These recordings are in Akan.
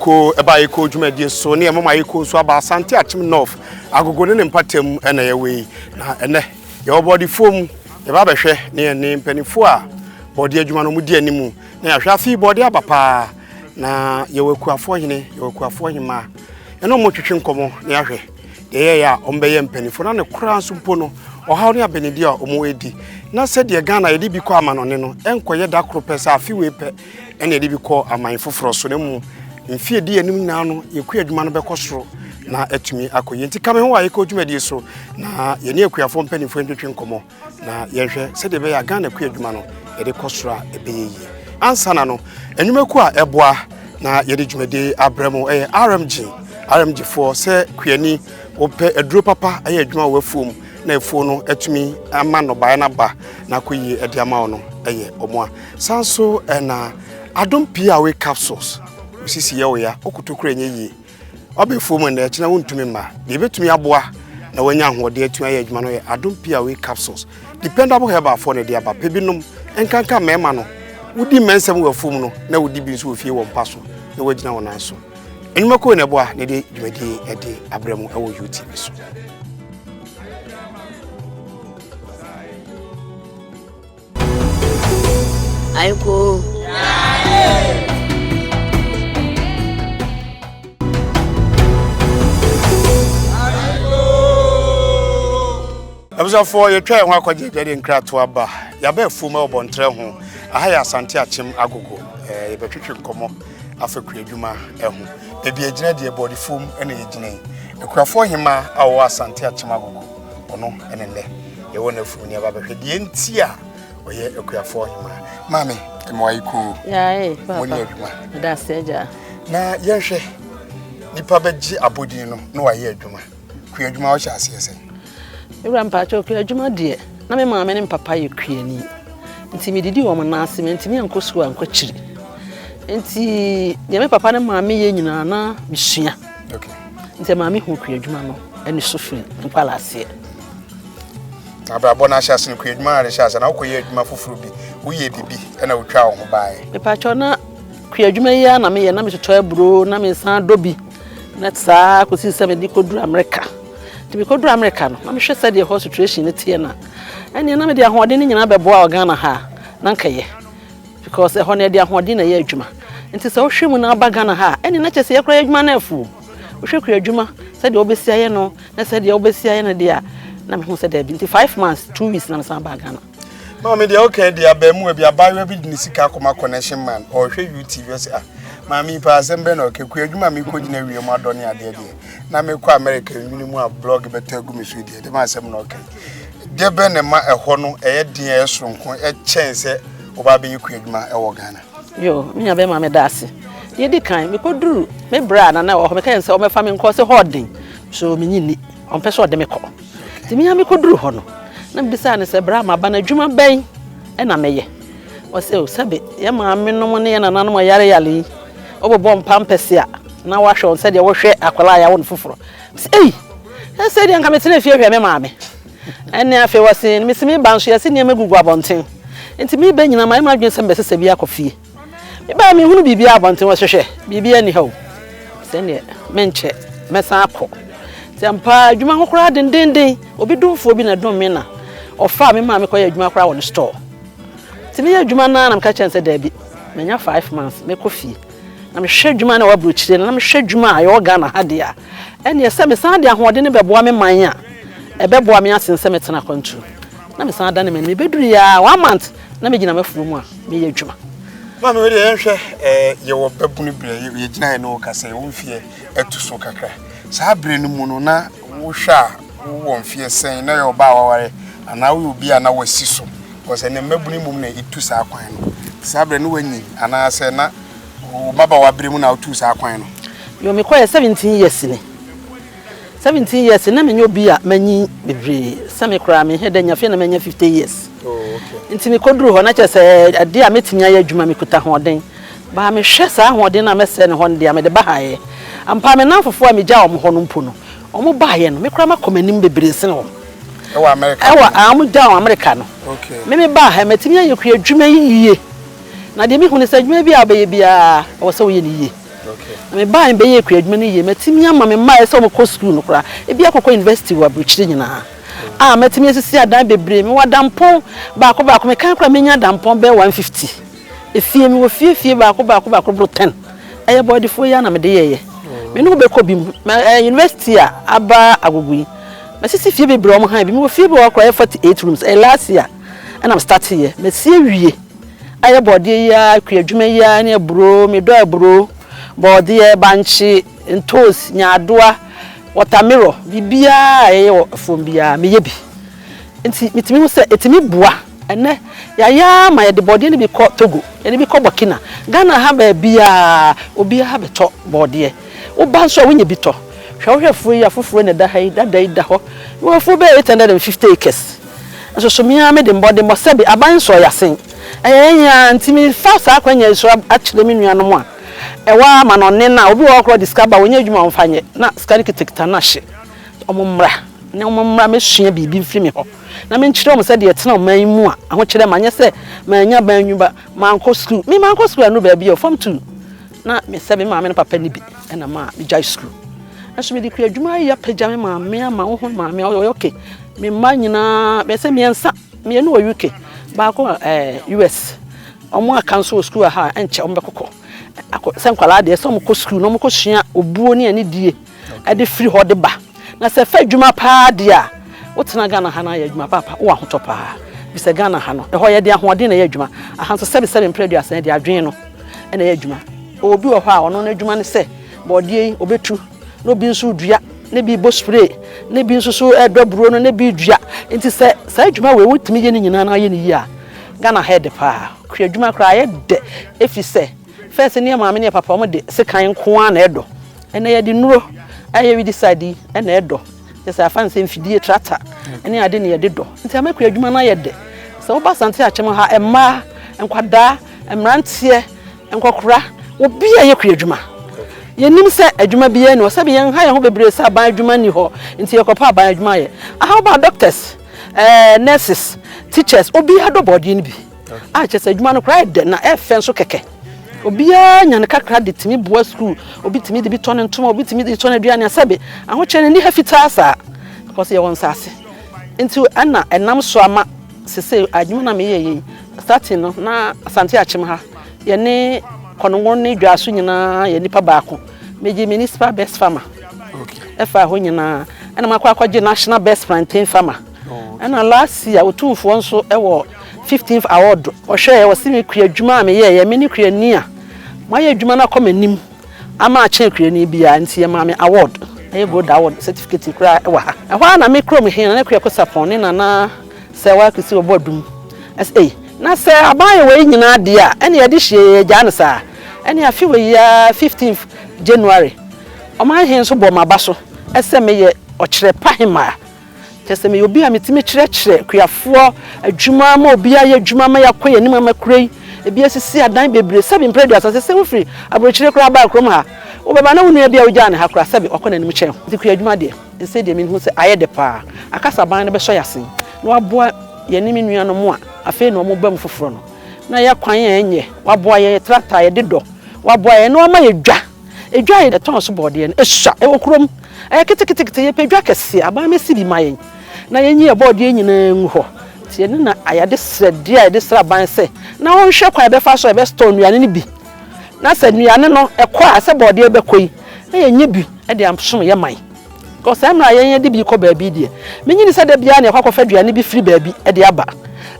Ko ɛbaa yɛ ko dwumadie so ne ɛmoma yɛ ko nso aba Asante Akyem North agogo ne ne mpatam ɛna yɛ wei na ɛnɛ yɛwɔ bɔɔdefoɔ mu yɛba bɛhwɛ ne yɛn ne mpanimfoɔ a bɔɔde adwuma no mu di anim na yɛahwɛ afi bɔɔde aba paa na yɛwɔ akuafoɔ hene yɛwɔ akuafoɔ hemaa ɛna ɔmo twetwe nkɔmɔ na yɛahwɛ deɛ yɛyɛ a ɔmo bɛyɛ mpanimfoɔ na ne koraa nso mpo no ɔhaw ne abɛnidi a ɔmo edi na sɛdeɛ Ghana yɛde bi kɔ amanɔne no ɛnkɔyɛ da koro pɛ sɛ afe wei pɛ ɛna ɛde bi kɔ aman foforɔ so na mmom mfe edi anim nyinaa no yɛkua adwuma no bɛkɔ soro na atumi akɔ yie nti ka me ho a yɛkɔ dwumadie so na yɛne akuafoɔ mpanimfoɔ ntwetwe nkɔmmɔ na yɛnhwɛ sɛdeɛ ɛbɛyɛ a ghana kua adwuma no yɛde kɔ soro a ɛbɛyɛ yie ansa na no nnwumaku a ɛboa na yɛde dwumadie abrɛ mu ɛyɛ rmg rmg foɔ sɛ kuani wɔpɛ aduro papa ɛyɛ adwuma wɔ afuo mu na afuo no atumi ama nnɔbaeɛ no aba na akɔ yie ɛde ama wo no ɛyɛ ɔmo a San so ɛna adom pii a woyɛ capsules osisi yɛ wo ya okoto kura nyɛ yie ɔbɛfuo mu ɛna ɛkyina wontumi mma deɛ ɛbɛtumi aboa na wanya ahoɔden atumi ayɛ adwuma no yɛ adom pii a woyɛ capsules dependable herbal foɔ na ɛde aba pɛ binom nkanka mmarima no wodi mmɛnsɛm wɔ afuo mu no na wodi bi nso wɔ fie wɔ mpa so na wagyina wɔn nan so nnwuma kɔɔ na ɛboa na ɛde dwumadie ɛde abrɛ mu ɛwɔ UTV so. Aiko. abusuafoɔ yɛtwa yɛn ho akɔgye agya de nkratoa aba yɛaba afuo ma ɔbɔntrɛ ho aha yɛ asante akyem agogo eh, yɛbɛtwetwe nkɔmmɔ afa kua adwuma eh, ho baabi agyina deɛ bɔɔde fam na yɛgyina yi akurafoɔ hema a wɔwɔ asante akyem agogo ɔno ɛne nnɛ yɛwɔ no afunu ne ɛba bɛhwɛ deɛ nti a ɔyɛ akuafoɔ ɔhemaa maame mmoa yi kuu mo ne adwuma na yɛnhwɛ nipa bɛgye abɔdin no na wayɛ adwuma kua adwuma wɔhyɛ aseɛ sɛ wura mpakyɛ kua adwuma deɛ na me maame ne mpapa yɛ kuani nti medidi wɔn nan ase mentumi ankɔ sukuu ankɔkyiri nti deɛ me papa ne maame yɛ nyinaa na mesua Nti maame hu kuadwuma no ne so firi nkwalaaseɛ. Abrabɔ no ahyɛ ase no kuadwuma na de hyɛ ase na wokɔyɛ adwuma foforɔ bi woyɛ biribi na wotwa wo ho baeɛ. Mepakyɛw na kuadwuma yi a na meyɛ na metotɔ aburo na mesan dɔ bi na saa kɔsi sɛ mede kɔduru Amerika. Nti mekɔduru Amerika no na mehwɛ sɛdeɛ hɔ situation no teɛ no a ɛneɛ na mede ahoɔden no nyinaa bɛboa wɔ Ghana ha a na nkɛyɛ. Because ɛhɔ no yɛde ahoɔden na ɛyɛ adwuma. Nti sɛ wohwɛ mu na aba Ghana ha a, ɛne na kyerɛ sɛ yɛkora yɛ adwuma no afu. Wohwɛ kura adwuma sɛdeɛ wobɛsi ayɛ no na sɛdeɛ wobɛsi ayɛ no deɛ a na mehu sɛ daabi. Nti five months, two weeks na mesan baa Ghana. Maame deɛ okay deɛ abaamuwa bi abaayewa bi de ne sika akɔma connection man ɔhwɛ UTV ɔsɛ ah maame yi paa asɛm bɛn na ɔka kua adwuma a mekɔ gyina wiem adɔ ne adeɛ deɛ na mekɔ America nwene mu a blog bɛtɔ agu me so deɛ dɛm asɛm na ɔka yi. Deɛ bɛn na ɛma ɛhɔ no ɛyɛ den a ɛyɛ soronko kyɛn sɛ woba abɛyɛ kua adwuma wɔ Ghana? Yoo, me nua bɛrima meda ase. Deɛ di kan, mekɔduru me berɛ a nana wɔ hɔ, mekae sɛ wɔmɛfa me nkɔ, ɔse hɔ ɔden, so menye nni, ɔmpɛ sɛ ɔde me kɔ. Nti me a mekɔduru hɔ no, na mebisaa no sɛ, berɛ a maba no adwuma bɛn na mɛyɛ? Ɔse o, sɛbe yɛ maame nom ne yɛ nananom ɔyareyare yi, wobobɔ mpampɛse a, na wahwɛ wɔn sɛdeɛ wohwɛ akwadaa a yɛawo no foforɔ, Ei! Ɛsei deɛ nka metena fie hwɛ me maame. Ɛnne afei wɔse no mesi meba nso yɛse nneɛma gugu abɔnten. Nti meba nyina mayɛ m'adwene sɛ mebɛsesa bi akɔ fie. Mebaeɛ menhunu biribiara abɔnten wɔse hwɛ biribiara nni ha o. Sɛ nneɛ menkyɛ mɛsan akɔ. Nti ampaa adwuma ho koraa dendennden obi domfoɔ bi na ɛdom me na ɔfaa me maame kɔyɛ adwuma koraa wɔ ne store. Nti meyɛ adwuma no ara na meka kyerɛ no sɛ daabi manya five months mɛkɔ fie. na mehwɛ adwuma no a ɛwɔ aburokyire no, na mehwɛ adwuma a ɛwɔ Ghana ha deɛ a, ɛnneɛ sɛ mesan de ahoɔdene bɛboa me man a, ɛbɛboa me asen sɛ mɛtena akwantuo. Na mesan adane m'ani. Mebɛduruiɛ ara, one month, na megyina m'afuo mu a meyɛ adwuma. Maame wei deɛ yɛnhwɛ yɛwɔ babunu berɛ, yɛgyina yɛ ne wo ka sɛ wo mfeɛ atu so kakra. Saa berɛ no mu no na wohwɛ a wowɔ mfeɛ sɛn, na yɛ ɔbaa waware anaa woyɛ obi a na wasi so. Because ɛnɛ mmabunu mmom na etu saa kwan no. Saa berɛ no wanyin anaasɛ na wo mmabaawa berɛ mu na wotu saa kwan no? Yo, mekɔeɛ seventeen years ni. Seventeen years na menyɛ obi a manyin bebree. Sɛ me koraa menhɛ da nya fie na manya fifty years. Nti mekɔduru hɔ na kyerɛ sɛ adeɛ a mɛtumi ayɛ adwuma mekuta ahoɔden. Baa mehwɛ saa ahoɔden no a mɛsɛe no hɔ no deɛ a mede bahaeɛ. Ampa ara me nnamfofoɔ a megyaa wɔn hɔ no mpo no, wɔn baeɛ no me koraa makɔ m'anim bebree sene wɔn. Ɛwɔ Amerika. Ɛwɔ a wɔn gya wɔn Amerika no. Okay. Me me baa ha mɛtumi ayɛ kura adwuma yi yie. Na deɛ mehu ne sɛ adwuma bi a ɔbɛyɛ biara ɛwɔ sɛ woyɛ ne yie. Okay. Na me baa mbɛyɛ kura adwuma no yie mɛtumi ama me mmaa ɛsɛ wɔn kɔ sukuu no koraa ebi akɔkɔ university wɔ aburukyiri nyinaa. Mm. A mɛtumi asisi adan bebree me wɔ adampɔn baako baako me kan koraa menya adampɔn bɛɛ 150. Efie me wɔ fie fie baako baako baako boro 10. Ɛyɛ bɔɔdefoɔ yi a na mede yɛɛyɛ. Mm. Me ne ho bɛkɔ bi mu. University a aba agogo yi. Masisi fie bebree a wɔn hann bi. Mewɔ fie bi wɔ hɔ koraa a ɛyɛ forty eight rooms. Ɛyɛ last year ɛna me start yɛ. Masi awie. Ayɛ bɔɔdeɛ yi ara, kua adwuma yi ara ne aburo. Me dɔ aburo, bɔɔdeɛ, bankye, ntoosi, nyaadoa, wɔtamerɔ, biribiara a yɛyɛ wɔ fam biara meyɛ bi. Nti metumi hu sɛ ɛtumi boa. Ɛnnɛ, yɛayɛ ara ma yɛde bɔdeɛ no bi kɔ Togo, yɛde bi kɔ Burkina. Ghana ha baabiara, obiara bɛtɔ bɔdeɛ. Woba nso a, wonya bi tɔ. Hwɛ wohwɛ afuo yi a, foforɔ na ɛda ha yi, dada yi da hɔ. Mewɔ afuo bɛyɛ eight hundred and fifty acres. Nso so me ara mede mmɔden bɔ sɛbe aban nsɔɔ yɛasen. Ɛyɛ yɛn ara nti mefa saa akwannya yi so akyerɛ me nuanom a ɛwɔ amanɔnne no a, obi wɔ hɔ koraa a ɔde sika ba a, ɔnyɛ adwuma a ɔmfa nyɛ, na sika no kitakita no ahye. Wɔn mmra na wɔn mmra mesua biribi mfiri me hɔ na menkyerɛ wɔn sɛ deɛ ɛtena ɔman yi mu a ahokyerɛ ma nyɛ sɛ manya ban nwuma mankɔ sukuu me mankɔ sukuu ano baabi a fam tu na mesɛ me maame no papa ne bi ɛna ma megyae sukuu nso mede kua adwuma ayɛ apagya me maame ama wo ho maame a ɔyɛ ɔke me mma nyinaa bɛsɛ mmiɛnsa mmienu wɔ UK baako wɔ eh, US wɔn aka nso wɔ sukuu ha ɛnkyɛ wɔn bɛkɔkɔ sɛ nkwadaa deɛ sɛ wɔn kɔ sukuu na wɔn kɔ sua obuo ne anidie ɛde firi hɔ de ba na sɛ fɛ adwuma paa deɛ a wotena ghana ha no ayɛ adwuma paapa wowɔ ahotɔ paa bisɛ ghana ha no ɛhɔ yɛde ahoɔden na ɛyɛ adwuma aha nso sɛbesɛbe mprɛ aduasa yɛde adwene no ɛna ɛyɛ adwuma obi wɔ hɔ a ɔno no adwuma no sɛ bɔɔdeɛ yi ɔbɛtu na obi nso dua ne bi bɔ spray ne bi nso so ɛdɔ buro no ne bi dua nti sɛ saa adwuma wei wotumi yɛ ne nyinaa na ayɛ ne yie a ghana ha yɛ de paa kura adwuma koraa yɛ dɛ ɛfiri sɛ First ne yɛ maame ne yɛ papa ɔmo de sekan nko ara na ɛdɔ ɛnɛ yɛde nnuro ɛyɛ widisadi ɛna ɛdɔ kyɛsɛ afa no sɛ mfidie trata ɛne ade na yɛde dɔ nti amɛkɔ adwuma no ayɛ dɛ sɛ woba asante akyɛm ha ɛmmaa nkwadaa mmeranteɛ nkɔkora obi a yɛkɔ adwuma yɛnim sɛ adwuma biara ni hɔ sɛbi yɛn ha yɛn ho bebree sɛ aban adwuma ni hɔ nti yɛkɔpɛ aban adwuma yɛ aha woba doctors ɛɛ nurses teachers obi adɔ bɔɔdeɛ no bi. a kyerɛ sɛ adwuma no koraa yɛ dɛ na ɛyɛ fɛ nso kɛkɛ. Obiara nya ne kakra de tumi boa sukuu, obi tumi de bi tɔ ne ntoma, obi tumi de tɔ n'aduane a sɛbe ahokyere no nni ha fitaa saa because yɛwɔ nsaase nti ɛna ɛnam so ama sese adwuma no a meyɛ yɛ yi starting no na Asante Akyem ha yɛne Kɔnongo ne Dwaso nyinaa yɛ nipa baako megye municipal best farmer ɛfa hɔ nyinaa ɛna makɔ akɔgye national best plantain farmer Ɛna last year Otumfoɔ nso wɔ fifteenth award ɔhwɛɛ ɔsi me kua adwuma a meyɛɛyɛ me ne kuani a mayɛ adwuma no akɔ m'anim ama akyɛn kuani biara nti yɛmaa me award ɛyɛ gold award certificate koraa ɛwɔ ha ɛhɔ ara na me kurom he Nana Kweako Sapon ne Nana Sɛwa Kwesi wɔbɔ adum ɛsɛ ei na sɛ aban yɛ wei nyinaa deɛ a ɛne yɛde hyia yɛ gyaa no saa ɛne afe wei yi ara fifteenth January ɔman he nso bɔɔ m'aba so ɛsɛ meyɛ ɔkyerɛ pa he maa Kyerɛ sɛ meyɛ obi a metumi kyerɛkyerɛ akuafoɔ adwuma ama obi ayɛ adwuma ama yɛakɔ yɛn anim ama kuro yi ebi asisi adan bebree sɛbi mpere aduasa sɛ sɛ wofiri aburokyire koraa baa kurom ha wobɛba na wo nua bi a wogyaa ne ha koraa sɛbi wakɔ n'anim kyɛn ho nti kua adwuma deɛ ɛsɛ deɛ mehu sɛ ayɛ dɛ paa akasaban no bɛsɔ yɛ ase na waboa yɛne me nua no mo a afei na wɔn ba mu foforɔ no na yɛ kwan a ɛnyɛ waboa yɛ tractor yɛde dɔ waboa yɛ na wama yɛ dwa edwa yɛ tɔn so bɔɔdeɛ no esua ɛwɔ kurom. Ɛyɛ keteketekete, yɛpɛ dwa kɛseɛ, aban mɛsi bi ma yɛn na yɛnyi yɛn bɔɔdeɛ nyinaa ngu hɔ. Nti yɛne na ayɛde srɛdeɛ a yɛde srɛ aban sɛ na ɔnhwɛ kwan a yɛbɛfa so a yɛbɛstɔɔ nnuane no bi na sɛ nnuane no ɛkɔ a sɛ bɔɔdeɛ bɛkɔ yi na yɛnya bi de asom yɛn man. Because saa mmerɛ a yɛn yɛde bi kɔ baabi deɛ mennye nni sɛ da biara na yɛkɔ akɔfa aduane bi firi baabi de aba.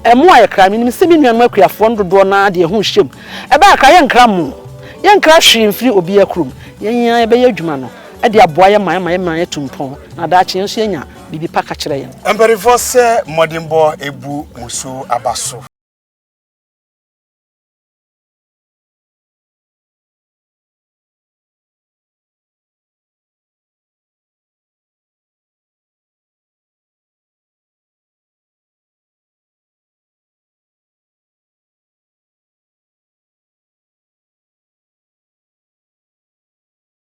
Ɛmmoa ayɛ kra. Menim sɛ me nuanom akuafoɔ no dodoɔ no ara de ɛho rehyɛ mu. Ɛbaa kra yɛnkra mo, yɛnkra hwee mfiri obiara kurom. Yɛn ara yɛbɛyɛ adwuma no. de aboa yɛn ma ɛma yɛn mmerɛ yɛtu mpɔn na daakye yɛn nso yɛnya biribi pa ka kyerɛ yɛn. Mpanimfoɔ sɛ mmɔdenbɔ bu mo so aba so.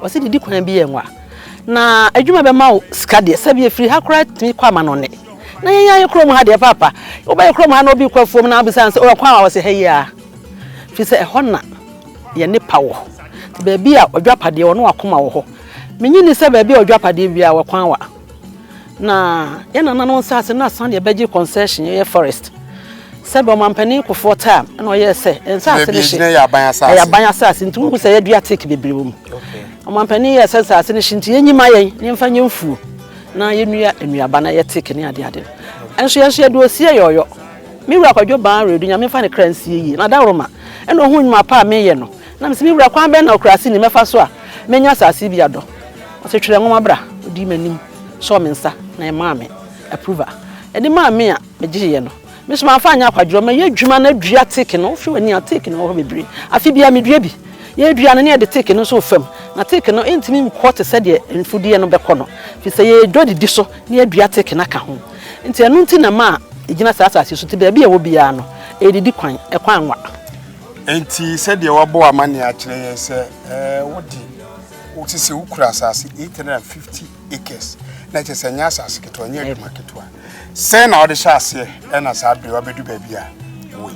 ɔsɛ didi kwan bi yɛ nwa na adwuma bɛma wo sika deɛ sɛ bi efiri ha koraa tumi kɔ ama no ne na yɛn ayɛ kurom ha deɛ paapa wobɛyɛ kurom ha na obi kɔ afuom na abisa sɛ ɔkwan a wɔsɛ ha yi a fi sɛ ɛhɔ na yɛ nipa wɔ baabi a ɔdwapadeɛ wɔ no akoma wɔ hɔ menyi ni sɛ baabi a ɔdwapadeɛ bi a wɔkwan wa Na yɛn nananom nsase no asan de abɛgye concession, ɛyɛ forest. Sɛdeɛ ɔmanpanin Kufuor taa na ɔyɛɛ sɛ nsase no hye, ɛyɛ aban asase nti wohu sɛ yɛadua teak bebree wɔ mu. Ɔmanpanin yɛɛ sɛ nsase no hye nti yɛnyi ma yɛn na yɛmfa nyɛ mfuo na yɛnnua nnuaba na ɛyɛ teak ne adeade no. Ɛnso yɛn nso yɛde osie yɛ ɔyɔ. Me wura Kwadwo Baa Redu, Nyame mfa ne kra nsie yie, na Dawuroma na ɔhuu nnwuma pa a meyɛ no na mese me wura kwan bɛn na ɔkurase ni mɛfa so a mɛnya asase bi adɔ? Ɔse twerɛ nwoma bra, ɔdii m'anim. sɔɔ me nsa na ɛmaa me approval. Ɛde maa me a, megyeeɛ no. Me nso mamfa anyɛ akwadworɔ, mɛyɛ adwuma na adua teak no. Wofi w'ani a, teak no wɔ hɔ bebree. Afe biara medua bi. Yɛredua no na yɛde teak no nso refam. Na teak no, ɛntumi nkɔ te sɛ deɛ mfudeɛ no bɛkɔ no, ɛfiri sɛ yɛdɔ didi so na yɛadua teak no aka ho. Nti ɛno nti na ɛma a ɛgyina saa asase so, nti baabi a ɛwɔ biara no, ɛredidi kwan, ɛkwan wa. Enti sɛdeɛ wɔabɔ amanneɛ akyerɛ yɛn sɛ, ɛɛ, wode. Wote sɛ wokura asase 850 acres na kyerɛ sɛ ɛnyɛ asase ketewa, ɛnyɛ adwuma ketewa. Sɛn na wode hyɛ aseɛ ɛna saa bere wabɛdu baabi a woi?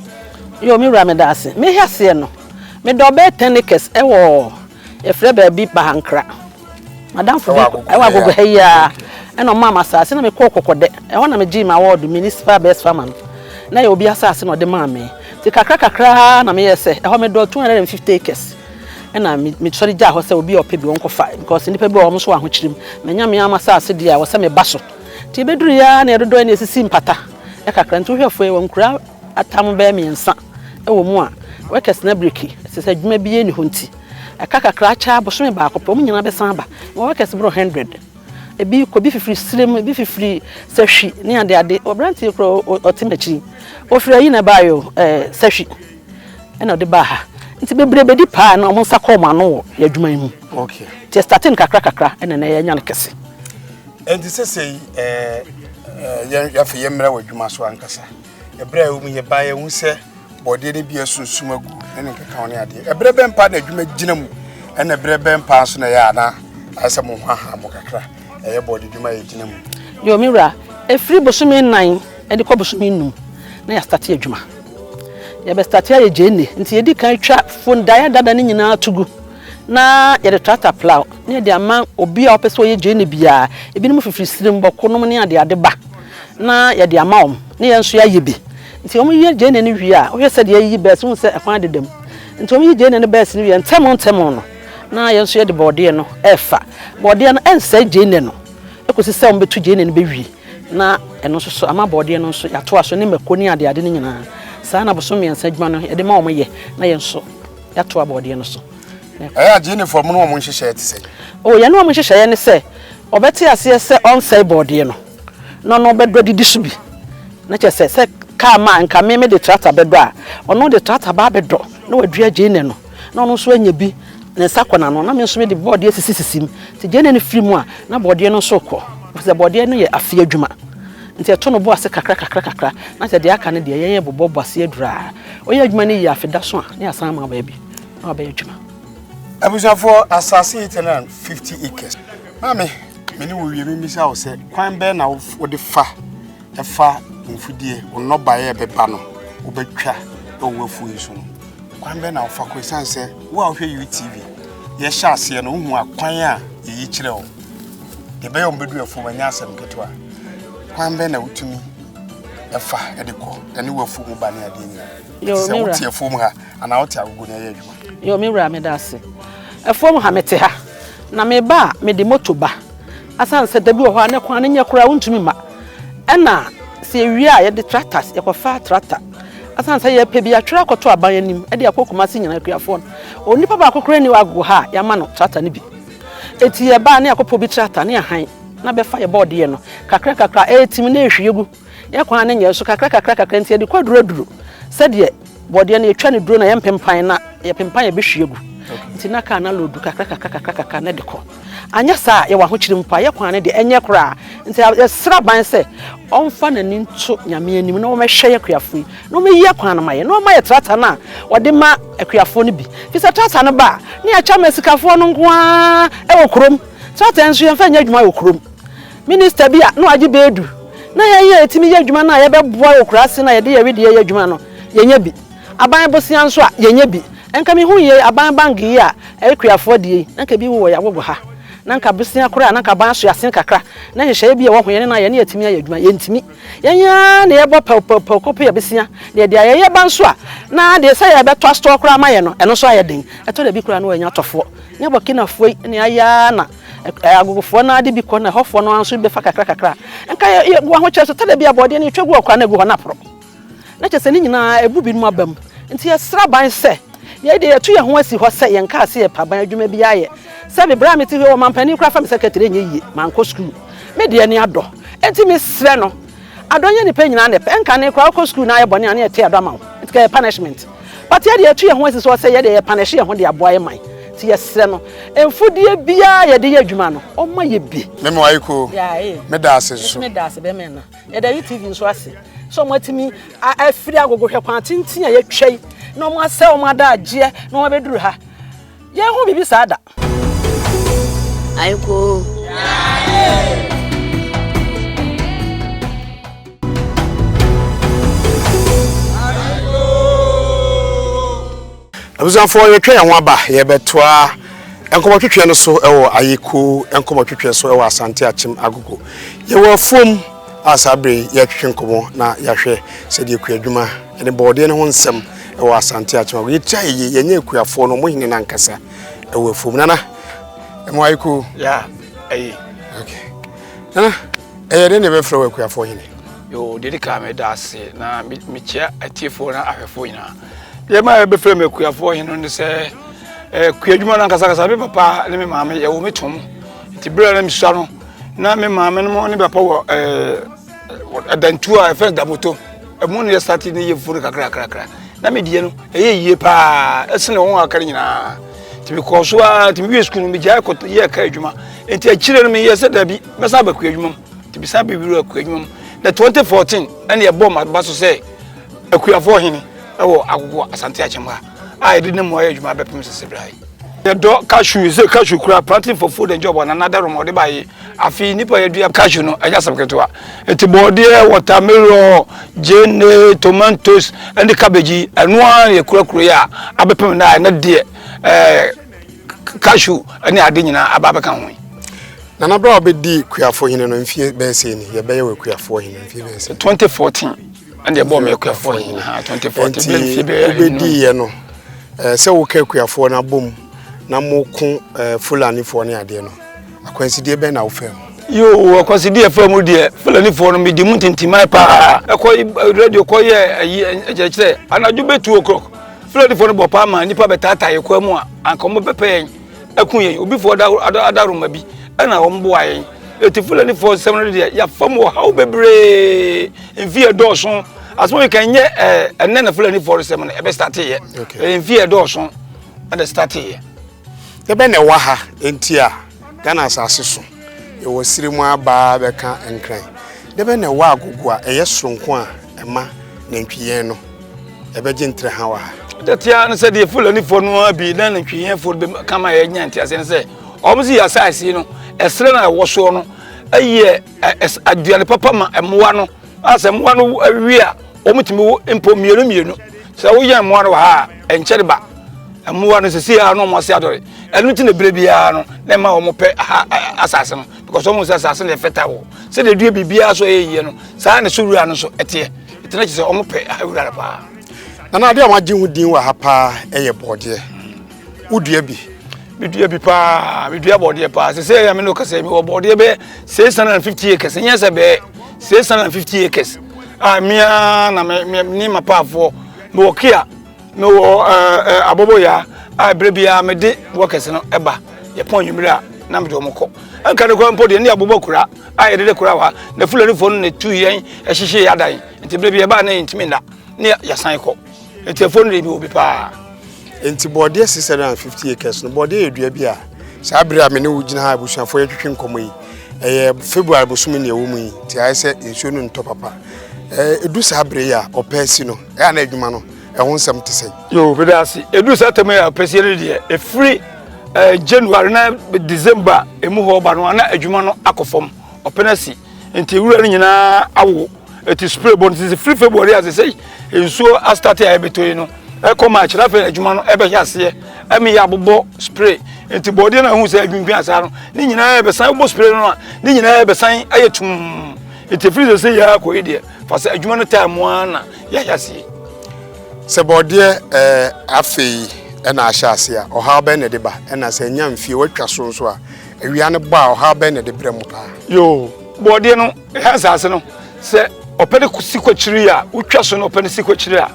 Yo, me wura meda ase. Me hyɛ aseɛ no, meda ɔbɛyɛ 10 acres ɛwɔ yɛfrɛ baabi Bahankra. Madamfo bi ɛwɔ agogo ha yi ara ɛna ɔmaa me asase na mekɔɔ kɔkɔdɛ. Ɛhɔ na megyee me award municipal best farmer no. Na yɛ obi asase na ɔde maa me. Nti kakra kakra na meyɛɛ sɛ ɛhɔ medɔ 250 acres Ɛna me me sɔre gyaa hɔ sɛ obi a ɔpɛ bi ɔnkɔfa because nnipa bi wɔ hɔ wɔn nso wɔ ahokyerem. Manya me ara m'asase deɛ a ɛwɔ sɛ meba so. Nti ɛbɛduru yi ara na yɛdodɔe na yɛsisi mpata kakra. Nti wohwɛ fo yi wɔnkura atam bɛyɛ mmiɛnsa wɔ mu a workers no abiriki ɛfiri sɛ adwuma biara nni hɔ nti. Ɛka kakra akyɛ ara bosome baako pɛ wɔn nyinaa bɛsan aba. Mewɔ workers boro hundred. Ebi kɔ ebi fifiri Silem ebi fifiri Sahwi ne adeade. Aberanteɛ kura ɔ ɔ ɔte m'akyi yi ɔfiri ayi na ɛbaeɛ o ɛɛ Sahwi. ɛna ɔde baa ha nti bebree bɛdi paa na wɔn nsa kɔ wɔn ano wɔ yɛ adwuma yi mu okay nti ɛstate no kakra kakra ɛna na yɛanya no kɛse ɛnti sɛsɛi eh, eh, yɛafe yɛmmra wɔ adwuma so ankasa ɛberɛ a ɛwɔ mu yɛbaa yɛhu sɛ bɔdeɛ no bi asunsum agu ne ne nkeka ne adeɛ ɛberɛ bɛn paa na adwuma gyina mu ɛna ɛberɛ bɛn paa nso na ɛyɛ ana ayɛ sɛ mo ho aha mo kakra ɛyɛ bɔde adwuma yɛ gyina mu yo me wura ɛfiri bosome nnan Ɛde kɔ bosome nnum na yɛastate adwuma. Yɛbɛstate ayɛ gyeene nti yɛdi kan twa fondaeɛ dada no nyinaa to gu na yɛde tractor plow na yɛde ama obi a ɔpɛ sɛ ɔyɛ gyeene biara. Ebinom fifiri Sirem, Bɔko nom ne adeade ba na yɛde ama wɔn na yɛn nso yɛayɛ bi. Nti wɔyɛ gyeene no wie a, wohwɛ sɛdeɛ yɛayiyi bɛs wohu sɛ ɛkwan deda mu. Nti wɔyi gyeene no bɛs no wie a, ntɛm ntɛm no na yɛn nso yɛde borɔdeɛ no refa. Borɔdeɛ no ɛnsɛe gyeene no kɔsi sɛ wɔbɛtu gyeene no bɛwie. Na ɛno nso so, ama bɔɔdeɛ no nso, yɛatoa so, ne mako ne adeade no nyinaa. Saa na bosome mmiɛnsa adwuma no yɛde ma wɔyɛ, na yɛn nso, yɛatoa bɔɔdeɛ no so. Ɛyɛ a Gyenefoɔ, mo ne wɔn nhyehyɛeɛ te sɛn? O, yɛne wɔn nhyehyɛeɛ ne sɛ, wɔbɛte aseɛ sɛ ɔnsɛe bɔɔdeɛ no, na ɔno bɛdɔ adidi so bi. Na kyerɛ sɛ, sɛ kaa ma anka me mede trakta bɛdɔ a, ɔno ɔde trakta ba abɛdɔ, na wadua Gene no. na ɔno nso anya bi, ne nsa kɔ n'ano, na me nso mede bɔɔdeɛ sisisisi mu. Nti gyeene no firi mu a, na bɔɔdeɛ no nso rekɔ. Ɛfiri sɛ bɔɔdeɛ no yɛ afeɛ adwuma. Nti ɛto no bo ase kakra kakra kakra, na kyerɛ deɛ aka no deɛ, yɛyɛ bobɔ bɔ aseɛ duru ara. Woyɛ adwuma no yie a, afe da so a, na yɛasan ama wo baabi na wabɛyɛ adwuma. Abusuafoɔ, asase yi tɛnɛ na fifty acres. Maame, me ne wo wie, memmisa wo sɛ, kwan bɛn na wode fa fa mfudeɛ, wo nnɔbaeɛ a ɛbɛba no, wobɛtwa wɔ w'afuo yi so no? Kwan bɛn na wofa kɔ? Esiane sɛ wo a wohwɛ UTV, yɛhyɛ aseɛ no wohu akwan a yɛyi kyerɛ wo. Deɛ ɛbɛyɛ wɔn bɛdu afuom ɛnyɛ asɛm ketewa. Kwan bɛn na wotumi ɛfa ɛde kɔ ɛne wafuo mu ba ne adeɛ nyinaa? Sɛ wote afuom ha anaa wote agogo na ɛyɛ adwuma. Yɛ me wura meda ase. Afuom ha mete ha na meba a mede moto ba. Asan sɛ da bi wɔ hɔ a ne kwan no nyɛ koraa wontumi ma. Ɛna sɛ yɛwie a yɛde tractors yɛkɔfa tractor asan sɛ yɛpɛ bi atwerɛ akɔto aban anim de akɔ Kumasi nyina akuafoɔ no onipa baako koraa ni wɔ agogo ha a yɛama no tractor no bi eti yɛbaa ne akɔpɔ bi tractor ne ahan na bɛfa yɛ bɔɔdeɛ no kakra kakra ɛɛtim na ɛhwie gu yɛ kwan ne nyɛ so kakra kakra kakra nti yɛde kɔ aduro aduro sɛdeɛ Bɔdeɛ no yɛtwa no duro na yɛmpempan na yɛpempan a ɛbɛhwie agu nti na kaa no aloodu kakra kakra kakra kakra na de kɔ anyɛ saa a yɛwɔ ahokyere mu paa yɛ kwan no deɛ ɛnyɛ koraa nti yɛsrɛ aban sɛ ɔmfa n'ani nto nyame anim na wɔmɛhwɛ yɛ akuafo yi na wɔmɛyi akwan no ma yɛ na wɔma yɛ trata no a wɔde ma akuafoɔ no bi fi sɛ trata no ba a ne yɛakyɛ ma asikafoɔ no nko ara ɛwɔ kurom trata nso yɛmfa nyɛ adwuma wɔ kurom Minista bi a na ɔagye bɛ edu na hɛn a yetumi yɛ edwuma no a yɛbɛboa wɔ ekuraase no a yɛde yɛwedeɛ yɛ edwuma no, yɛnnyɛ bi. Aban bosea nso a, yɛnnyɛ bi. Nka mihun yei aban bank yi a ɛyɛ kuafo adie yi, na nka bi wowɔ yɛn agogo ha, na nka bosea koraa na nka aban aso yɛn asen kakra, na nhyehyɛeɛ bi a ɛwɔ ho yɛne no a yɛne atumi ayɛ adwuma. Yɛntumi. Yɛn ara na yɛbɔ pɛwpɛwpɛw kɔpɛ yɛn bosea, na yɛde ayɛ. Yɛba nso a, na deɛ sɛ yɛbɛtɔ astɔɔ koraa ama yɛn no, ɛno nso ayɛ den. Ɛtɔ da bi koraa na wɔanya atɔfoɔ. Nyɛ Burkinafoɔ yi na yɛayɛ ara na. Ɛɛ agogofoɔ no ara de bi kɔ na ɛhɔfoɔ no ara nso bɛfa kakra kakra. Nka yɛ yɛ gu ahokyerɛ so tɛdɛ bi a bɔɔdeɛ no yɛtwa gu hɔ koraa na egu hɔ na aporo. Na kyerɛ sɛ ne nyinaa ɛbu binom aba mu. Nti yɛsrɛ aban sɛ yɛn deɛ yɛtu yɛn ho asi hɔ sɛ yɛn kaa sɛ yɛpɛ aban adwuma biara yɛ. Sɛbi berɛ a mete hɔ yi ɔmanpanin koraa fa me secretary nyɛ yie mankɔ sukuu. Me deɛ ani adɔ. Nti mesrɛ no Adɔ nyɛ nipa nyinaa na ɛpɛ ɛnkane koraa wokɔ sukuu na ayɛ bɔne a na yɛte adɔ ama wo nti ka yɛ punishment but yɛ deɛ yɛtu yɛn ho asi so sɛ yɛ deɛ yɛ punish yɛn ho de aboa yɛ man nti yɛsrɛ no mfudeɛ biara a yɛde yɛ adwuma no ɔmma yɛ bi. Me mo aye koo. Me da ase nso. Mesi me da ase bɛma ɛna. Yɛda UTV nso ase sɛ wɔn atumi afiri agogo hwɛ kwan tenten a yɛatwa yi na wɔn asɛ wɔn adagyeɛ na wɔn abɛduru ha. Yɛn ho biribi saa da. abusuafoɔ yɛtwa yɛn ho aba yɛbɛtoa nkɔmɔtwetwe no so wɔ ayeko nkɔmɔtwetwe so wɔ asante akyem agogo yɛwɔ afuom a saa bere yɛtwetwe nkɔmɔ na yɛahwɛ sɛdeɛ akua adwuma ne bɔɔdeɛ no ho nsɛm wɔ asante akyem agogo yɛtua yɛyɛ yɛnyɛ akuafoɔ no ɔmo hene no ankasa ɛwɔ afuom nana ɛmo ayɛ koo ya ɛyi ok nana ɛyɛ dɛ na ɛbɛfrɛ wɔ akuafoɔ hene yo deɛ de kaa me da ase na mekyia atiefoɔ na ahwɛfoɔ nyinaa deɛ ma ɛbɛfrɛ me akuafoɔ hene ne sɛ akua adwuma no ankasakasa me papa ne me maame yɛwɔ me tom nti berɛ na mesua no na me maame no ne papa wɔ ɛdantuo a ɛfɛ damoto ɛmu no yɛ sate ne yɛ fufuo no kakrakrakra na medeɛ no ɛyɛ yie paa ɛsene wɔn a aka no nyinaa nti mekɔɔ so a nti mewie sukuu no megyae kɔ yɛ ka adwuma nti akyire no meyɛ sɛ dabi mɛsan aba kua adwuma mu nti mesan bɛwiri akua adwuma mu na 2014 ɛne ɛbɔɔ maba so sɛ akuafoɔ hene ɛwɔ agogo asante akyɛm ha a yɛde ne mmoa yɛ adwuma bɛpem sese berɛ yɛdɔ cashew sɛ cashew kura planting for food and job ananada rɔmɔde baye Afei nnipa yɛdua cashew no ɛnyɛ asɛm ketewa. Eti bɔɔdeɛ, watermelon, gyeene, tomatoes ɛne cabbage yi ɛno ara na yɛkurakura yi a abɛpem na ɛnɛ deɛ ɛɛ cashew ɛne ade nyinaa aba abɛka ho yi. Nana bere a ɔbɛdi kuafo hene no mfie bɛyɛ sei ni yɛbɛyɛ wɔ kuafo hene mfie bɛyɛ sei. 2014 ɛna ɛbɔ ɔmo kuafo hene ha 2014 bɛyɛ mfie bɛyɛ ɛnum. Nti ɔbɛdi yɛ no ɛɛ sɛ woka kuafoɔ no abom na mo ko ɛɛ fulanifoɔ ne adeɛ no. Akwansideɛ bɛn na wofaa mu? Yoo, akwansideɛ faa mu deɛ Fulanifoɔ no medi mu ntintiman paa. Ɛkɔ radio kɔyɛ ayi nkyerɛkyerɛ anadwo bɛ two o'clock. Fulanifoɔ no bɔ paa ma nnipa bɛtaataa yɛn kwan mu a anka wɔbɛpɛ yɛn aku yɛn. Obifoɔ adaworoma bi ɛna wɔn boa yɛn. Eti Fulanifoɔ nsɛm no deɛ yɛafa mu ɔhaw bebree mfie dɔɔso. Asɛm yi kan nyɛ ɛnɛ na Fulanifoɔ no sɛm no ɛbɛ starteeɛ. Mfie dɔɔso ɛna starteeɛ. Dɛbɛn na ɛwɔ ha nti a Ghana asase so yɛwɔ siri mu abaa bɛka nkran? Dɛbɛn na ɛwɔ agogo a ɛyɛ soronko a ɛma nantwiyɛn no ɛbɛgye ntrɛ ha wɔ ha? Da ti ara no sɛ deɛ Fulanifoɔ no ara bi na nantwiyɛnfoɔ no bɛka ma yɛnya nteaseɛ no sɛ wɔn si asase no ɛserɛ no a ɛwɔ soɔ no yɛ aduane papa ma mmoa no. a sɛ mmoa no wie a wɔtumi wo mpo mmienu mmienu sɛ woyɛ mmoa no wɔ ha a ɛnkyɛre ba mmoa no sisi a na wɔn ase adɔre ɛno ti na ebire biara no na ɛma wɔn pɛ ha asase no because wɔn sɛ asase no yɛ fɛta wɔ sɛdeɛ dua biribiara so ɛyɛ yie no saa na so wura no so ɛteɛ ɛtena kyerɛ sɛ wɔn pɛ ha wura no paa. nana adeɛ a wɔagye ho din wɔ ha paa ɛyɛ bɔɔdeɛ. wodua bi medua bi paa medua bɔɔdeɛ paa sɛ sɛ yɛ me ne wokasɛ mewɔ bɔɔdeɛ bɛɛ 650 acres ɛnyɛ sɛ bɛɛ 650 acres a mea na ne mapaafoɔ mewɔ kia mewɔ abɔbɔyaa a berɛ biara mede wɔkɛse no ɛba yɛpɔn nwummere a na mede wɔn kɔ nka ne kora mpo deɛ ne abobɔ kura a yɛde de kora wa na fulanifoɔ no na tu yɛn ɛhyehye yɛ adan nti berɛ bi ɛbaa na yɛntumi nna ne yɛsan kɔ nti ɛfo no de bi wɔ bi paa nti bɔɔdeɛ 650 acres no bɔɔdeɛ yɛ dua bi a saa berɛ a me ne wo gyina ha abusuafoɔ yɛtwetwe nkɔmmɔ yi ɛyɛ february bosom ne ɛwɔ mu yi nti ayɛ sɛ nsuo no ntɔ papa ɛdu saa berɛ yi a ɔpɛ si no ɛyɛ na adwuma no ɛho nsɛm te sɛ yo meda ase ɛdu saa tɛm yɛ ɔpɛ si no deɛ ɛfiri eh, january na december ɛmu hɔ ba no ana adwuma no akɔ fam ɔpɛ no asi nti wura no nyinaa awo ɛti spray bɔ no sisi firi february a sɛsɛ nsuo astate a ɛbɛtɔ yi no ɛkɔ march na afei adwuma no ɛbɛhyɛ aseɛ ɛmi yɛ abobɔ spray nti bɔdeɛ no ahu sɛ adwimpin asaa no ne nyinaa ɛbɛsan bɔ spray no a ne nyinaa ɛbɛsan ayɛ tum nti firi sɛsɛ yɛ akɔ yi deɛ fa sɛ adwuma no taa mu ara na yɛhyɛ aseɛ sɛ bɔdeɛ ɛɛ afei ɛna ahyɛ aseɛ a ɔhaw bɛn na ɛde ba ɛna sɛ ɛnya mfie watwa so nso a awia no bɔ a ɔhaw bɛn na ɛde brɛ mu paa yoo bɔdeɛ no Ɛha asase no, sɛ ɔpɛ no si kɔ akyiri a, wotwa so na ɔpɛ no si kɔ akyiri a,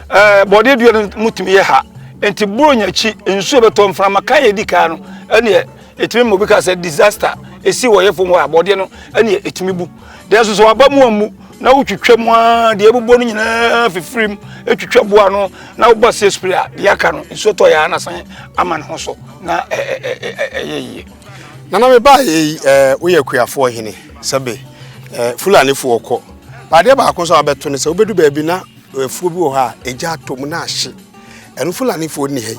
ɛɛ bɔdeɛ dua no mu tumi yɛ ha. Nti boro nya akyi, nsuo bɛtɔ mframa kan yɛ di kan no, ɛneɛ ɛtumi ma obi ka sɛ disaster ɛsi wɔ yɛ fam hɔ a, bɔdeɛ no ɛneɛ ɛtumi bu. Deɛ nso sɛ waba mu ammu na wotwitwa mu a, deɛ ɛbobɔ no nyinaa fifiri mu, ɛtwitwa boa no na wobɔ aseɛ spray a, deɛ aka no nsuo tɔ yɛ a na san ama ne ho so na ɛyɛ yie. nana me ba yi ɛɛ woyɛ kuafoɔ hene sɛbe ɛɛ fulanifoɔ kɔ adeɛ baako nso a wabɛto no sɛ wobɛdu baabi na afuo bi wɔ hɔ a ɛgya atɔ mu na ahye ɛno fulanifoɔ nni ha yi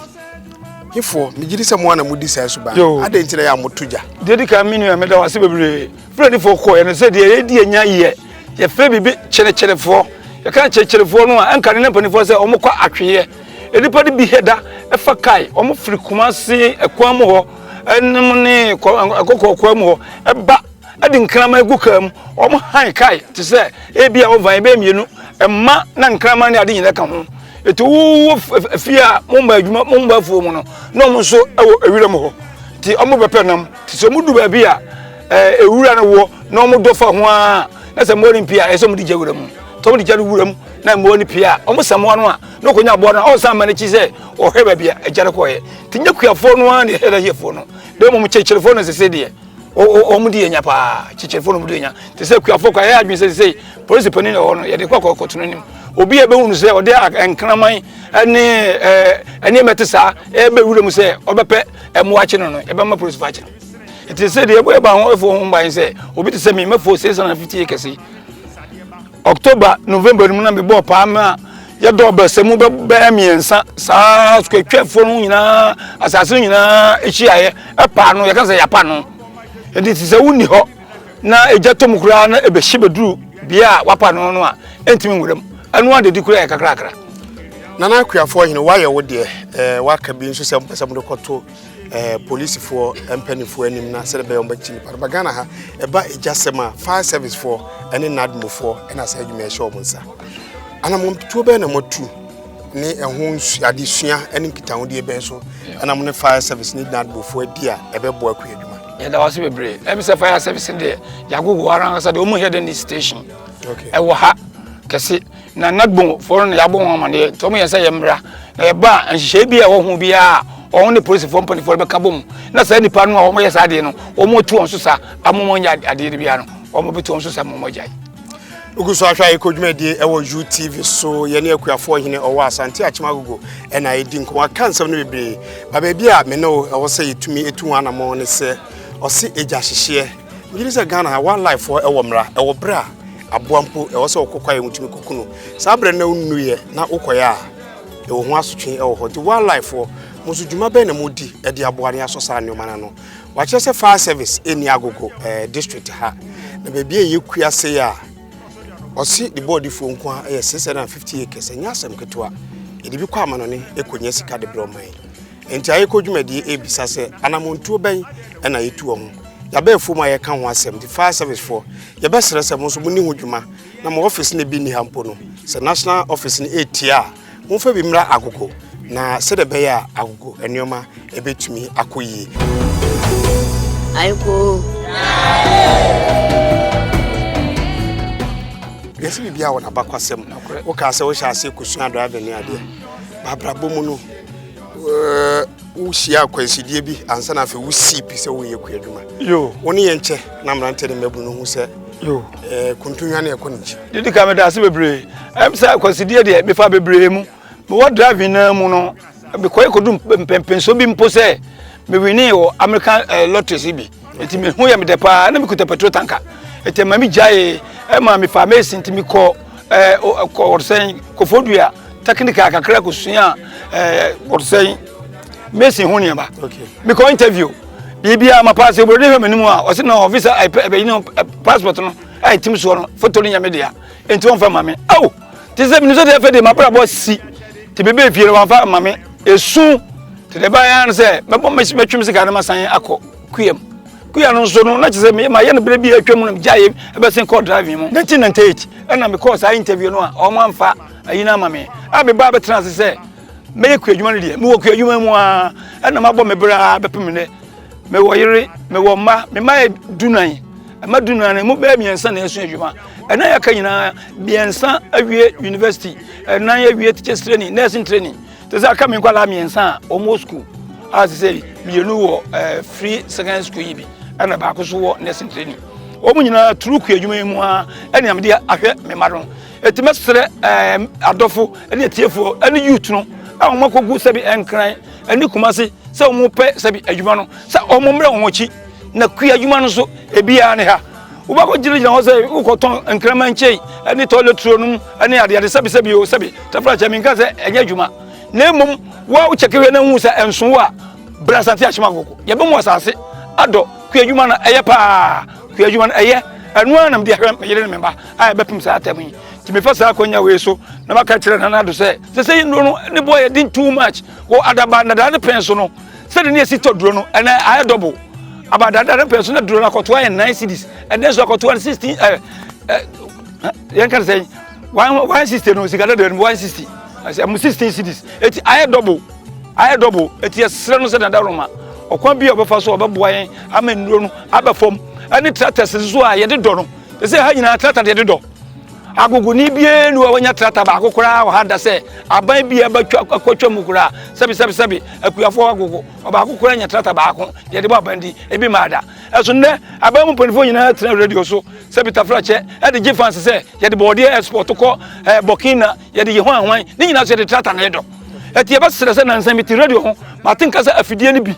hifoɔ megye di sɛ mo ana modi saa suban adɛn nti na yɛ a moto gya deɛ di kan me nua meda wo ase bebree fulanifoɔ kɔ ɛno sɛ deɛ yɛdi anya yɛ yɛfrɛ biribi kyerekyerefoɔ yɛka kyerekyerefoɔ no a ɛnka ne na mpanimfoɔ sɛ wɔkɔ atweeɛ nnipa no bi hɛda ɛfa kae wɔfiri kumase ɛkwan mu hɔ nom ne kɔkɔɔkɔɔ mu hɔ ba de nkraman gu kaa mu wɔn han kae te sɛ ebi a wɔvan bɛyɛ mmienu mma na nkraman ne ade nyinaa ka ho eti wowɔ fie a mo mma adwuma mo mma afuo mu no na wɔn nso wɔ ewira mu hɔ ti wɔn bɛpɛ nam te sɛ wɔn du baabi a ewura no wɔ na wɔn dɔ fa ho a na sɛ mmoa no mpia ɛsɛ wɔn de gya wura mu tɔm de gya no wura mu na mmoa no pia wɔn samoa no a na ɔkɔnya aboa no a ɔnsan mma n'akyi sɛ ɔhwɛ baabi a agya no kɔeɛ nti nyɛ kuafoɔ no ara na ɛhwɛ n'ahiefoɔ no na mmom kyekyerefoɔ no sese deɛ wɔn di anya paa kyekyerefoɔ no wɔn di anya te sɛ kuafoɔ kɔ ayɛ adwene sɛ sɛ polisi panin na ɛwɔ no yɛde kɔ akɔ kɔtɔn anim obi a ɛbɛhu no sɛ ɔde nkraman ne ɛɛ nneɛma te saa ɛbɛ wura mu sɛ ɔbɛpɛ ɛmoa akyi no no ɛbɛma polisi fa akyi no ɛte sɛ deɛ ɛbɔ ɛba ho ɛfo ho mban sɛ obi te sɛ mi mɛfo sɛ sɛ na fifty acres yi October, November no mu na mebɔɔ paa ma yɛdɔɔ bɛ sɛ mu bɛbɛyɛ mmiɛnsa saa sukatwafoɔ no nyinaa asase no nyinaa hyiaeɛ ɛpaa no yɛka sɛ yɛapa no ɛnti te sɛ wonni hɔ na ɛgya tɔ mu koraa na ɛbɛhye bɛduru bea a wapa no no a ɛntumi nwura mu ɛno a dedi koraa yɛ kakrakra nana akuafoɔ hene woayɛ wo deɛ ɛɛ waka bi nso sɛ mpɛ sɛ mode kɔto eh, polisifoɔ mpanimfoɔ anim na sɛdeɛ bɛyɛ wɔbɛkye nipa no ba ghana ha ɛba agyasɛm a fire servicefoɔ ne nadmofoɔ ɛna saa adwuma ɛhyɛ wɔn nsa anammɔntuo bɛyɛ na moatu ne ɛho adesua ne nkitahodeɛ bɛn so ɛna mo ne fire service ne nadmofoɔ adi a ɛbɛboa akua adwuma yɛda wase bebree ɛmi sɛ fire service deɛ yɛagogo ara ankasa deɛ ɔmu yɛ dɛ ne station ɛwɔ ha kɛse Na Nagbonfoɔ no na yɛabɔ wɔn amaneɛ nti wɔn yɛn sɛ yɛmmra na yɛba a nhyehyɛe bi a ɛwɔ ho biara a wɔn ne polisifoɔ mpanimfoɔ no bɛka bom na saa nnipa no a wɔyɛ saa adeɛ no wɔn tu wɔn so sa ama wɔn nyɛ adeɛ no biara no wɔn bɛtu wɔn so sa ma wɔn agyae. Ogu so ahwɛ ayɛ kɔdwumadie ɛwɔ UTV so yɛne akuafoɔ hene ɔwɔ Asante Akyem Agogo ɛna ɛdi nkɔmɔ aka nsɛm no bebree ba baabi a me ne wo ɛwɔ sɛ yɛtumi ɛtu wɔn anamɔ ne sɛ ɔse agya hyehyeɛ megyere sɛ Ghana ha wildlife ɛwɔ mmara ɛwɔ berɛ a Aboa mpo, ɛwɔ sɛ ɔkɔ kwaeɛ mu tumi kɔku no. Saa berɛ na wonuiɛ na wokɔeɛ a, ɛwɔ ho asotwe wɔ hɔ. Nti wildlife foɔ, mo nso dwuma bɛn na modi de aboa ne asɔ saa nneɛma no ano? Wakyerɛ sɛ fire service ɛnni agogo eh, district ha. Na baabi a ɛyɛ kua sei a, ɔse de bɔɔdifoɔ nko a ɛyɛ 650 acres, ɛnyɛ asɛm ketewa. Yɛde bi kɔ amanɔne ɛkɔnya sika de berɛ ɔman. Enti ayeko dwumadie e bisa sɛ anamontuo bɛn ɛna yɛ tu ɔmo. Yabɛ afuom a yɛ ka ho asɛm nti fire service foɔ yɛ bɛ srɛ sɛ mo nso mo ni ho dwuma na mo office no ebi ni ha mpo no sɛ national office no etia a mo nfa bi mmra agogo na sɛdeɛ ɛbɛyɛ a agogo nneɛma ɛbɛ tumi akɔ yie. Ayeko. Yɛsi biribi a wɔn abakwasɛm. Wokaa sɛ wohyɛ aseɛ kosua driving ne adeɛ. Baabrabɔ mu no wohyia akwansideɛ bi ansa na afei wosii pi sɛ woyɛ kua adwuma wo ne yɛn kyɛ na mmerante ne mmabunu no hu sɛ eh, kontonwa ne ɛkɔ ne nkyi didi ka meda ase bebree ɛm sɛ akwansideɛ deɛ mefa bebree mu mewɔ driving naa mu no mekɔyɛ kɔdu mpɛmpɛnso bi mpo sɛ mewinee wɔ american eh, lotteries bi Enti me ho yɛ me dɛ paa, na mekuta petrol tanka. Enti ɛma me gyaee, ɛma mefaa mesi nti mekɔ ɛɛ kɔ wɔsɛn Kofodua technical kakra kosua ɛɛ wɔsɛn mesi ho nneɛma. Mekɔ interview biribiara ma paase obroni hwɛ m'anim a ɔsi na ɔfisa ɛbɛyi no passport no a ɛtim soɔ no foto no nyɛ me dea enti wɔmfa ma me. Aw! Te sɛ menim sɛ deɛ afei deɛ m'abrabɔ asi te bɛbɛɛ fie no wɔamfa ma me ɛsu te deɛ ɛbaeɛ ara no sɛ mɛtwem sika no masan akɔ kuam kuya no nso no na kyerɛ sɛ mayɛ no berɛ bi atwa mu no megyaeɛ ɛbɛsen kɔɔ driving mu 1998 ɛna mekɔɔ saa interview no a ɔmo amfa ayi no ama me a mebaa bɛtena ase sɛ mɛyɛ kuadwuma no deɛ mewɔ kuadwuma mu a ɛna mabɔ me berɛ a bɛpem nnɛ mewɔ yere mewɔ mma me mma yɛ dunan ɛma dunan no mu bɛyɛ mmiɛnsa na ɛso adwuma ɛna yɛaka nyinaa mmiɛnsa awie university ɛnan awie teachers training nursing training te sɛ aka me nkwadaa mmiɛnsa a wɔn wɔ school a te sɛ mmienu wɔ ɛɛ eh, free secondary school yi bi ɛna baako so wɔ nursing training wɔn nyinaa turu kɔ adwuma yi mu a ɛna yɛn de ahwɛ me mma no eti mɛsrɛ ɛɛ eh, adɔfo ɛne atiefo ɛne youth no a wɔn akɔgu sɛbi ɛnkran ɛne kumase sɛ wɔn pɛ sɛbi adwuma no sɛ wɔn mmerɛ wɔn akyi na kua adwuma no so ebiara ne ha wobɛkɔ gyinagyina hɔ sɛ wokɔtɔn nkraman kyei ne tɔleturo nom ne adeade sɛbi sɛbi o sɛbi tɛfrakyɛ menka sɛ ɛnyɛ adwuma na mmom wa wokyɛke hwɛ no hu sɛ ɛnso wo a bra asante ahyema koko yɛbɛmu asase adɔ kua adwuma no ɛyɛ paa kua adwuma no ɛyɛ ɛno ara na mede ahwɛ meyere ne memba a yɛbɛpem saa atɛm yi Nti mefa saa akwanya wei so na maka kyerɛ Nana Addo sɛ sɛ sɛ nnuro no ne boɔ yɛ den too much wɔ adaba nnadaa ne pɛn so no sɛde ne yɛsi tɔ duro no ɛnɛ ayɛ double aba adada ne pɛn so na duro no akɔtoa yɛ nine cities ɛnɛ nso akɔtoa no sixteen ɛ ɛ yɛn ka sɛ one one sixty no sika dada no one sixty ɛsɛ mo sixteen cities eti ayɛ double ayɛ double eti ɛsrɛ no sɛ nana Addo ma ɔkwan bi a ɔbɛfa so ɔbɛboa yɛn ama nnuro no aba fam ɛne tractors nso a yɛde dɔ no ɛsɛ ha nyinaa tractor yɛde dɔ agogoni biara nu a wanya trata baako koraa wɔ ha da sɛ aban bi a ɛbɛtwa akɔtwa mu koraa sɛbi sɛbi sɛbi akuafoɔ agogo ɔbaako koraa nya trata baako deɛ de bɔ aban di ebi maa da ɛso nnɛ aban mu mpanimfoɔ nyinaa tena radio so sɛbi tafra kyɛ ɛde gye fansi sɛ yɛde bɔɔdeɛ export kɔ ɛɛ eh, burkina yɛde yɛ ho ahwan ne nyinaa so yɛde trata na ɛdɔ ɛti ɛbɛsrɛ sɛ nansan mi ti radio ho mate nka sɛ afidie no bi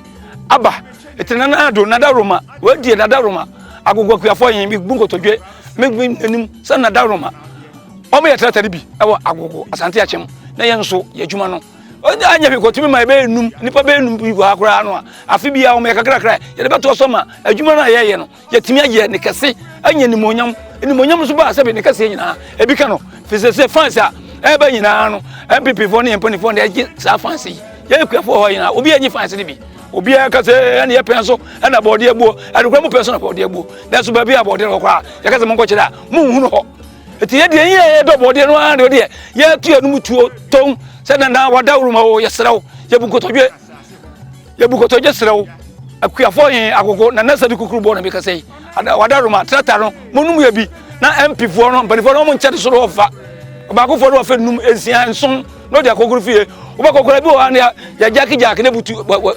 aba ete na na do na da roma we die na da roma agogwa kuafo yen bi bu nkotodwe me bi anim sa na da roma o me yetra tari bi e wo agogo asante achem na yen so ye adwuma no o da anya bi ko timi ma be num nipa be num bi go akora no a afi bi a o me kakra kra ye de beto so ma adwuma na ye ye no yɛatumi ayɛ ne kɛse anya animuonyam animuonyam nso baa sɛbe ne kɛseɛ nyinaa ebi ka no fi sɛ sɛ fans a ɛba nyinaa no mppfoɔ ne yɛmpanifoɔ na ɛgye saa fans yi yɛyɛ kuafoɔ hɔ nyinaa obi anyi fans no bi obiara ka sɛ ɛne yɛpɛn so ɛna bɔɔdeɛ buo ɛnokora mu pɛn so na bɔɔdeɛ buo nanso baabi a bɔɔdeɛ no hɔ koraa yɛka sɛ monkɔkyerɛ a monhunu hɔ ɛti yɛdeɛ yɛ yɛdɔ bɔɔdeɛ no ara deɛ yɛtu yɛnom tuo tɔn sɛ nana wadaworo ma o yɛserɛ wo yɛbu nkotodwe yɛbu kɔtɔgye serɛ wo akuafoɔ he agogo na nasa bi kukuru bɔɔ na mekasa yi wada roma trata no monom yɛ bi na mpifoɔ no mpanifoɔ no ɔmo nkyɛ de soro ɔfa ɔbaakofoɔ no ɔfɛ num nsia nson na ɔde akɔkoro fie wobɛkɔkora bi wɔ ha ne yɛgyake gyake ne butu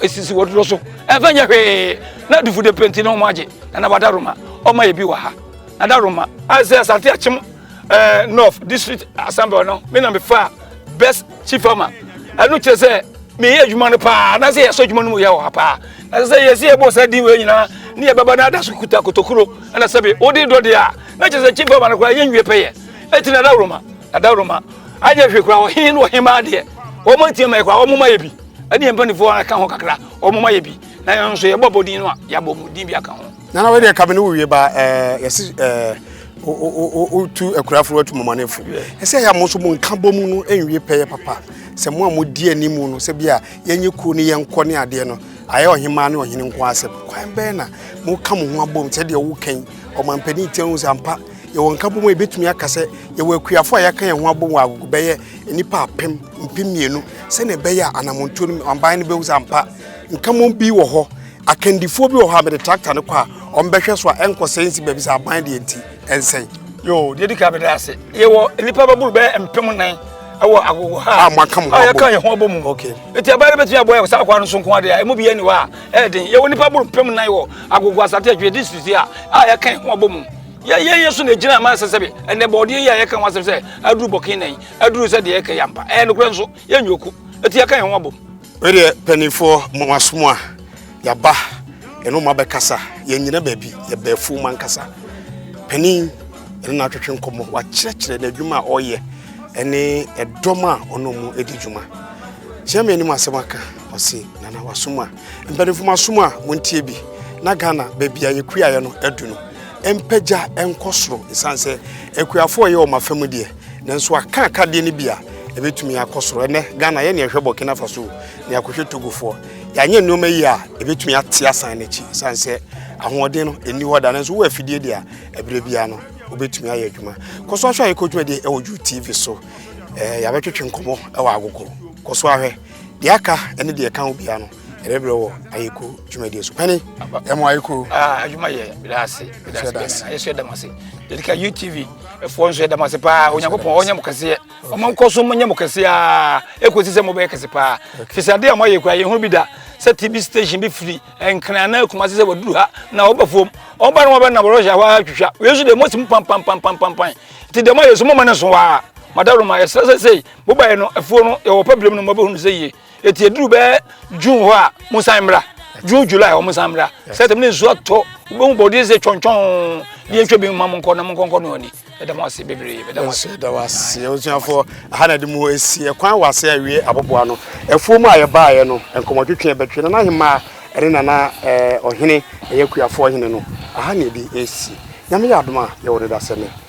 sisi wɔdodo so ɛmfa nyɛ hwee na dufude penti na ɔmo agye na na wada roma ɔma yɛ bi wɔ ha na da roma asɛ asante akyem ɛɛ north district assembly no me na me fa best chief farmer ɛno kyerɛ sɛ meyɛ adwuma no paa na sɛ yɛsɔ adwuma no mu yɛ wɔ ha paa ɛsɛ sɛ yɛsi yɛbɔ sɛ din wei nyinaa ne yɛbɛba no ada so kuta kotokuro ɛna sɛbe wode dɔ deɛ a na kyerɛ sɛ chief farmer no koraa yɛnwie pɛyɛ ɛti na dawroma adawroma anyɛ hwee koraa ɔhen ne ɔhemaa deɛ wɔn atia ma yɛ koraa wɔn ma yɛ bi ɛne yɛn mpanimfoɔ aka ho kakra wɔn ma yɛ bi na yɛn nso yɛbɔ abɔdin no a yɛabɔ mu din bi aka ho Nana wei deɛ kame ne wowie ba ɛɛ yɛsi ɛɛ wotu akurafo watu mɔmɔnefo ɛsɛ yɛ mo nso mo nka bɔ mu no ɛnwie pɛyɛ papa sɛ mo a mo di anim no sɛ bi a yɛnyɛ kuo ne yɛnkɔ ne adeɛ no ayɛ ɔhemaa ne ɔhene nko asɛm kwan bɛn na mo ka mo ho abom sɛ deɛ wo kɛn ɔmampanin tiɛ ho sɛ ampa yɛwɔ nka bɔ mu a yɛbɛtumi aka sɛ yɛwɔ akuafo a yɛaka yɛn ho abom wɔ agogo bɛyɛ nnipa apem mpem mmienu sɛnea ɛbɛyɛ a anamontuo no ɔban no bɛhu sɛ ampa nka mo bi wɔ hɔ Akandifoɔ bi wɔ hɔ a mede tractor no kɔ a wɔbɛhwɛ so a ɛnkɔsɛe nsi baabi sɛ aban deɛ nti ɛnsɛe. Yoo, deɛ di kan mede ase. Yɛwɔ nnipa bɛboro bɛyɛ mpem nan ɛwɔ agogo ha a moaka mo ho abɔ mu. Yɛka yɛn ho abɔ mu. Okay. Nti aban no bɛtumi abɔ yɛ saa kwa no so nko adeɛ a ɛmu biara ni hɔ a ɛyɛ den. Yɛwɔ nnipa boro mpem nan wɔ agogo asate adwene district yi a a yɛka yɛn ho abɔ mu. Yɛyɛ yɛ so na ɛgyina ama sɛ sɛbe ɛnɛ bɔɔdeɛ yi a yɛka ho asɛm sɛ aduru bɔke nan aduru sɛ deɛ yɛka yɛ ampa. Ɛyɛ nokorɛ nso yɛnyɛ oku. Nti yɛka yɛn ho abɔ mu. Me deɛ panifoɔ mo asom a yaba ɛno ma bɛkasa yɛnyina baabi yɛbɛɛfo ma nkasa panin ɛne no atwetwe nkɔmmɔ wakyerɛkyerɛ n'adwuma a ɔyɛ ɛne ɛdɔm a ɔno mu ɛdi dwuma kyerɛ me anim asɛm aka ɔse nana wasom a mpanimfo mo asom a montie bi na Ghana baabi a yɛkuaeɛ no adu no mpagya nkɔ soro ɛsiane sɛ akuafoɔ yɛ wɔn afa mu deɛ Nanso aka akadeɛ no bi a ɛbɛtumi akɔ soro. Ɛnɛ Ghana yɛne ɛhwɛ Burkina Faso ne akɔhwɛ Togofoɔ. Yɛanyɛ nneɛma yi a ɛbɛtumi ate asan no akyi sane sɛ ahoɔden no ɛnni hɔ da. Nanso wowɔ afidie deɛ a ɛberɛ biara no wobɛtumi ayɛ adwuma. Kɔ so ahwɛ a yɛkɔ dwumadie ɛwɔ Ju TV so. Ɛɛ yɛabɛtwetwe nkɔmmɔ ɛwɔ agogo. Kɔ so ahwɛ. Deɛ aka ɛne deɛ ɛka ho biara no Ɛbɛbrɛ wɔ ayeko dwumadie so. Pɛne ɛmo ayeko. Ah, adwuma yɛ bɛda ase. Bɛda ase. Bɛda ase. Yɛsɔ ɛdam ase. Yɛde ka UTV ɛfoɔ nso ɛdam ase paa. Onyankopɔn ɔnyɛ mo kɛseɛ. Ɔmo nkɔ so mo nyɛ mo kɛseɛ aa. Ekosi sɛ mo bɛyɛ kɛse paa. Fisi adeɛ a mo ayɛ kura yɛn ho bi da. Sɛ TV station bi firi nkran na ekuma se sɛ waduru ha na ɔba fam. Ɔba no ɔbɛ nam Russia hɔ a twitwa. Wei nso de mo si mo pam pam pam pam pam pam. Ti deɛ mo ayɛ so mo ma ne nso waa. Madawuro ma yɛ sɛ sɛ sɛ mo ba yɛ no ɛfoɔ no yɛ wɔ pɛ binom no mo bɛ hunu sɛ yie. Eti eduru bɛyɛ June hɔ a, mo nsan mmra. June July hɔ mo nsan mmra. Sɛtɛm ne nsuo atɔ wobɛhu bɔ ɔde sɛ twɔntwɔn deɛ ntwa bi ma mo nkɔ na mo nkɔnkɔ no ani. Ɛda mo ase bebree. Ɛda mo ase. Ɛda mo ase. Osuafoɔ aha na de mu esi ɛkwan wɔ ase awie aboboa no. Ɛfuo mu a yɛbaeɛ no nkɔmɔtwetwe ɛbɛtwe nana ahemmaa ɛne nana ɔhene ɛyɛ kuafoɔ hene no aha na ɛde esi. Nyame yɛ adom a yɛwɔ no dasɛ nɛ.